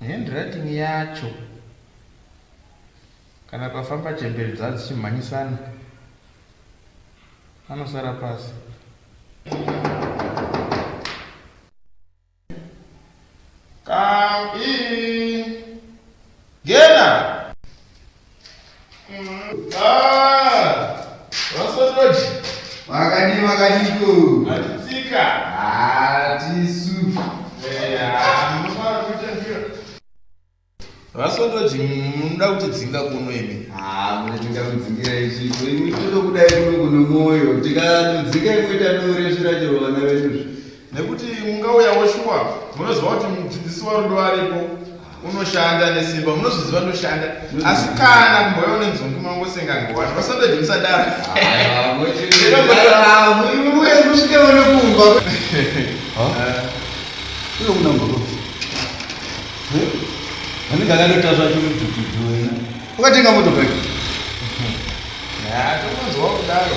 Handwriting yacho kana pafamba chembere dza dzichimhanyisana anosara pasi. Come in. Gena. vasotoji munoda kuti dzinga kuno imi munotinga kudzingira ichipo imi totokudai kuno kuno mwoyo tikatodzinga imwe tanoresvira chero vana vedu nekuti mungauyawo shuwa munoziva kuti mudzidzisi warudo aripo unoshanda nesimba munozviziva ndoshanda asi kana kumboyawo nenzungu mangosenga ngowani vasandoje musadaro anenge akatoita zvacho mudhudhudhu wena ukatenga motokari tokonzwa kudaro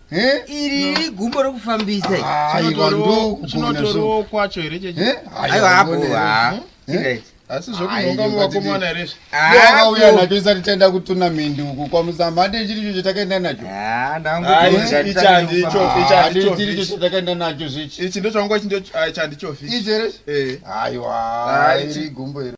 iri igumbo rokufambisa chinotorowo kwacho here chechiaiwapoa asi zvokunhonga muvakomana here zvakauya nacho isati taenda kutuna mindi uku kwamusamhande chiri cho chatakaenda nacho chiri cho chatakaenda nacho zvichi ichi ndochangu chandichofi aiwa iri gumbo iri